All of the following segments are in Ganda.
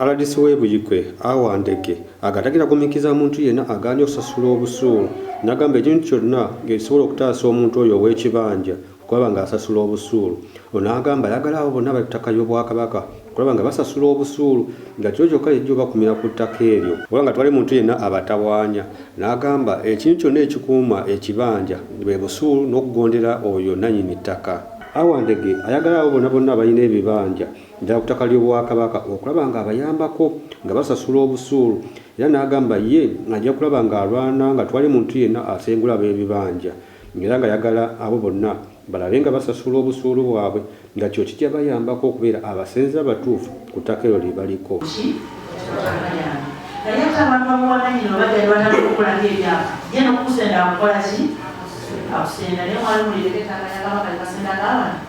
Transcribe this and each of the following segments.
Rdc w'e Buikwe, Awa Ndege agatagira gumiikiriza muntu yenna agaanye okusasula obusuulu n'agamba ekintu kyonna ng'ekisobola okutaasa omuntu oyo ow'ekibanja okulaba ng'asasula obusuulu. Ono agamba ayagala abo bonna abali ku ttaka ly'Obwakabaka okulaba nga basasula obusuulu nga kyo kyokka y'ejja obakumira ku ttaka eryo kuba nga tewali muntu yenna abatawaanya n'agamba ekintu kyonna ekikuuma ekibanja bwe busuulu n'okugondera oyo nnannyini ttaka. Awa Ndege ayagala abo bona bonna abalina ebibanja ddala ku ttaka ly'Obwakabaka okulaba ng'abayambako nga basasula obusuulu era n'agamba ye ajja kulaba ng'alwana nga twali muntu yenna asengula ab'ebibanja era ng'ayagala abo bonna balabe nga basasula obusuulu bwabwe nga kyo kijja bayambako okubeera abasenze abatuufu ku ttaka eryo lye baliko. naye ate abantu abawananyina oba jali batanakukulako ebyapa ye nokukusenda akukola ki akusenda naye mwali mulireka ettaka lyakabaka lyebasendaga abana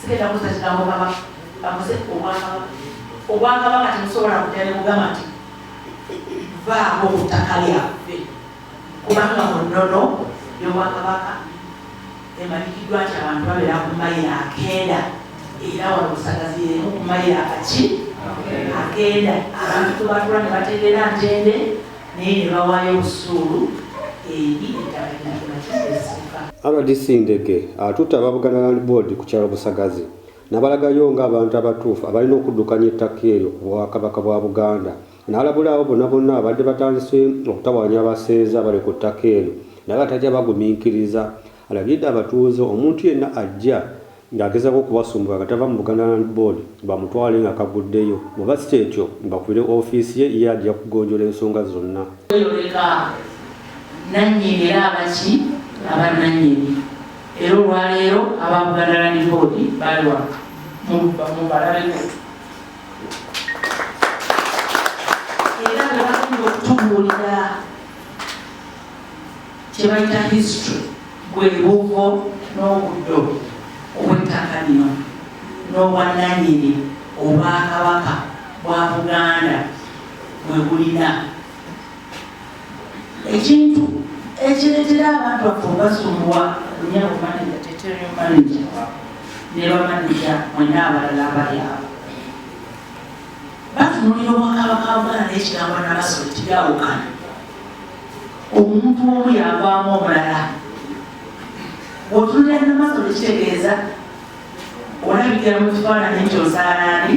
sigenda kuza kigambo kabaka bamuze obwakabaka obwakabaka temusobola kutya nebugamba nti vaako ku ttaka lyaffe kubanga mu nnono yobwakabaka emalikiddwa nti abantu babeera ku mayiro akenda era wano busagazi yemu ku mayiro akaki akenda abantu tubatula ne bategeera ntende naye ne bawaayo obusuulu eri ettaka linakimakisa essuka rdc Ndege atutte aba Buganda Land Board ku kyalo Busagazi nabalagayo nga abantu abatuufu abalina okuddukanya ettaka eryo ku Bwakabaka bwa Buganda n'alabula abo bonna bonna abadde batandise okutawaanya abaseeza abali ku ttaka eryo naye abatajja bagumiikiriza alagidde abatuuze omuntu yenna ajja ng'agezaako okubasumbuwa nga tava mu Buganda Land Board bamutwale nga kaguddeyo, bw'oba si ky'ekyo mbakubire ofiisi ye ye ajja kugonjoola ensonga zonna. Kweyoleka nnannyini era aba ki? Aba nnannyini era olwaleero aba Buganda Land Board bali wano mubalabeko era nga bagenda okutubuulira. kyebayita history bwe buvo n'obuddo obw'ettaka lino n'obwannanyini obwakabaka bwa buganda bwe bulina ekintu ekireetera abantu baffe obasumbuwa lunyabo manaja teterio manaja ne bamanaja mwena abalala abalyabo batunulira obwakabaka buganda n'ekigambo nabaso teyawukana omuntu omu yagwamu omulala bwotunulira namaso tekitegeeza olabikira mu kifaananyi nti ozaalaani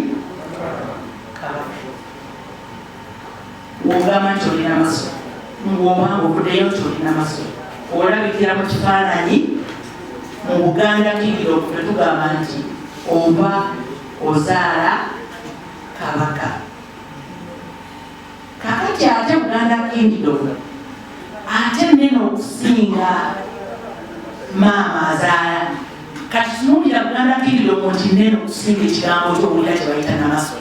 wogamba nti olina maso ngwobanga okudeyo nti olina maso olabikira mu kifaananyi mu buganda kigiro netugamba nti oba ozaala kabaka Kakati ate Buganda Kingdom ate nene okusinga maama azaala kati tunuulira Buganda Kingdom nti nene okusinga ekigambo ky'okuwulira kye bayita namaso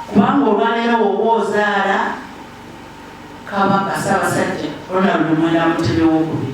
kubanga olwaleero woba ozaala kabaka Ssaabasajja Ronald Muwenda Mutebi w'okubiri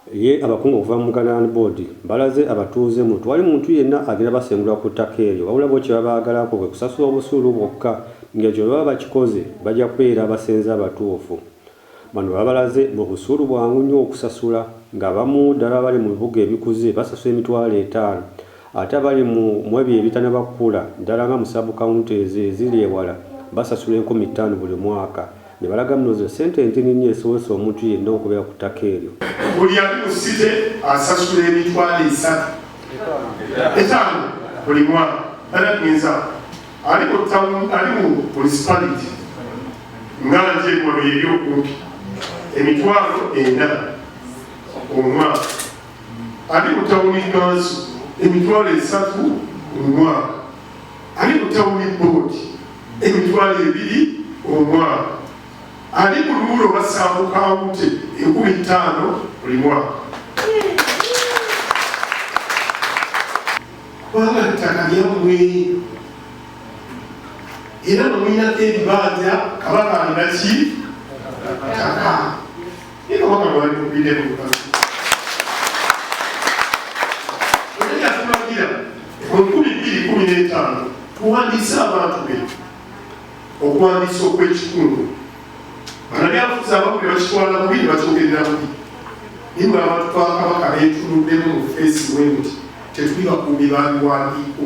Ye abakungu okuva mu Buganda Land Board balaze abatuuze mbu tewali muntu yenna agenda basengula ku ttaka eryo wabula bo kye babaagalako kwe kusasula obusuulu bwokka ng'ekyo bwe baba bakikoze bajja kubeera basenze abatuufu. Bano babalaze mbu obusuulu bwangu nnyo okusasula ng'abamu ddala abali mu bibuga ebikuze basasula emitwalo etaano Ate abali mu mu ebyo ebitanaba kukula ddala nga mu sub county ezo eziri ewala basasula enkumi ttaano buli mwaka ne balaga muno ze ssente entini nnyo ezisobozesa omuntu yenna okubeera ku ttaka eryo. Buli ali mu city asasula emitwalo esatu, etaano buli mwaka. That means ali mu town, ali mu municipality nga nje wano eri okumpi emitwalo ena omwaka. ali mu tawuni kanso emitwalo esatu omwaka ali mu tawuni boodi emitwalo ebiri omwaka ali mu luula obasanvu kawunti enkumi ttaano buli mwaka kubanga ttaka lyammwe era nomuyinako ebibanja kabaka alina ki ttaka tuwandiise abantu be okuwandiisa okw'ekikungu banabyafuzi abamu ne bakitwala bubi ne bakyogerera bubi naye nga abantu bakabaka beetunuddemu mu feesi bwe nti tetuli bakuumi babiwandiiko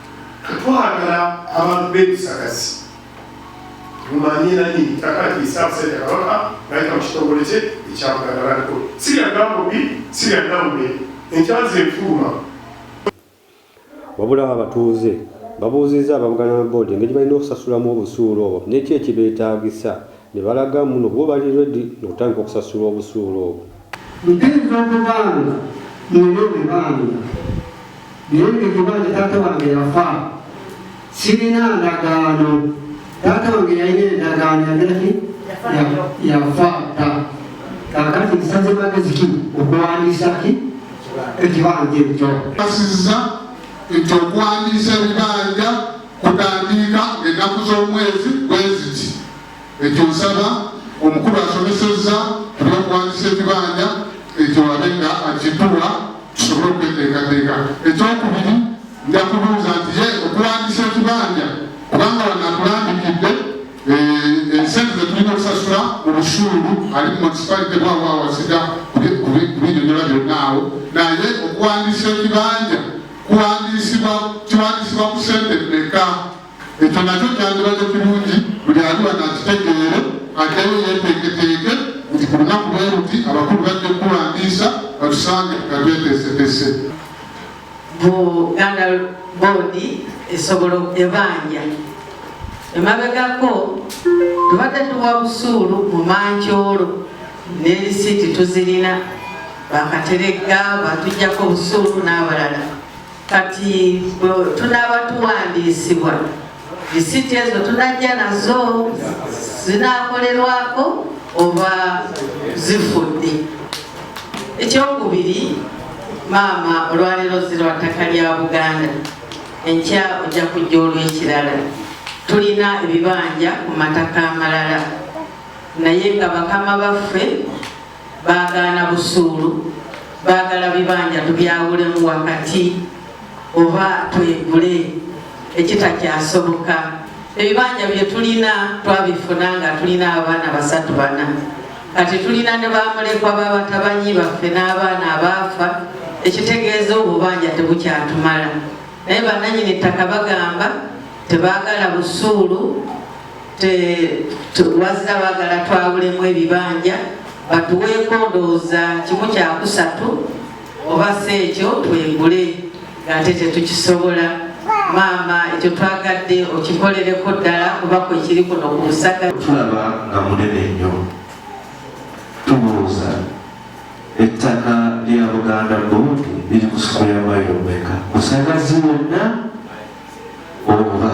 Twagala abantu b'ebisagazi mumanye nani takatiisa abasajja kabaka nayita mu kitongole kye ekyabuganda laliko sirya gambobi sirya nambe enkyazi enfuluma wabula abatuuze babuuzizza ababuganda na boodi engeri balina okusasulamu obusuulu obwo nekyo ekibeetaagisa ne balaga muno bo bali redi nokutandika okusasula obusuulu obwo Mpinza okubanga nina ebibanja naye nga ekibanja taata wange yafa sirina ndagaano taata wange yalina endagaano yagiraki yafa dda kakati nsaze magezi ki okuwandiisa ki ekibanja ekyo asiza nti okuwandiisa ebibanja kutandiika ennaku z'omwezi bweziti Ekyo nsaba omukulu asomesezza ku by'okuwandiisa ekibanja ekyo wabe nga akituwa tusobole okweteekateeka. Ekyokubiri nja kubuuza nti ye okuwandiisa ekibanja kubanga wano atulambikidde eh, ensente zetulina okusasula mu busuulu ali munisipalite bwawo awasiga kubinyonyola byonna awo naye okuwandiisa ekibanja kuwandiisibwa kiwandiisibwa ku sente mmeka Ekyo nakyo kyandibadde kirungi buli ali wano akitegeere, addeyo yeeteeketeeke nti ku lunaku bwe luti abakulu bajja okukuwandiisa batusange nga tweteeseteese. Buganda boodi esobola ebanja emabegako tubadde tuwa busuulu mu mancoolo ne lisiiti tuzirina bakateregga batujjako obusuulu n'abalala Kati tunaaba tuwandiisibwa lisiti ezo tunajja nazo zinakolerwako oba zifudde ekyokubiri maama olwaleero zirwa ttaka lya buganda enkya ojja kujja olwekirala tulina ebibanja ku mataka amalala naye nga bakama baffe baagaana busuulu baagala bibanja tubyawulemu wakati oba twegule ekitakyasoboka ebibanja byetulina twabifuna nga tulina abaana basatu bana kati tulina ne bamulekwa babatabanyi baffe n'abaana abaafa ekitegeeza obubanja tebukyatumala naye bananyini ttaka bagamba tebagala busuulu wazira bagala twawulemu ebibanja batuweeko ndowooza kimu kyakusatu oba si ekyo twegule ng'ate tetukisobola maama ekyo twagadde okikolereko ddala kuba kwekiri kuno ku busaga tulaba nga munene nnyo tubuuza ettaka lya buganda boodi liri ku sikuya mayomeka kusagazi wonna oba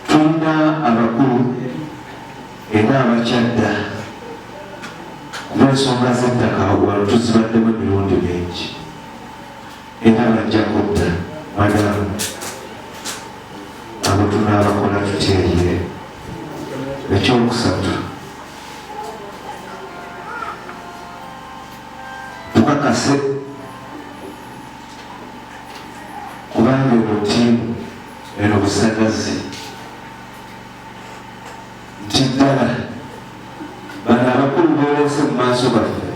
tulina abakulu era abakyadda kulwensonga z'ettaka wano tuzibaddemu emirundi mingi era bajja kudda madamu abo tunaabakola tutyeyire ekyokusatu tukakase kubanga eno ttiimu eno busagazi nti ddala bano abakulu boolese mu maaso baffe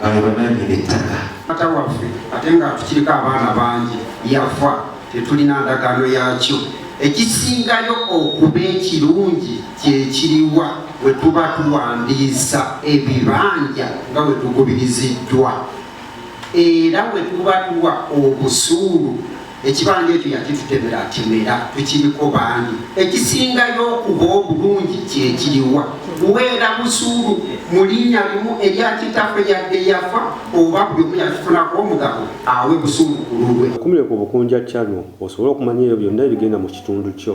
bano bananyini ettaka ata waffe ate nga tukiriko abaana bangi yafa tetulina ndagaano yakyo ekisingayo okuba ekirungi kyekiriwa wetuba tuwandiisa ebibanja nga wetugubiriziddwa era bwe tuba tuwa obusuulu ekibanja ekyo yakitutemera atemera tukiriko bangi ekisingayo okuba obulungi kyekiriwa kuweera busuulu mu linnya limu erya kitaffe yadde yafa oba buli omu yakifunako omugabo awe busuulu ku lulwe okumire ku bukunja channel osobole okumanya ebyo byonna ebigenda mu kitundu kyo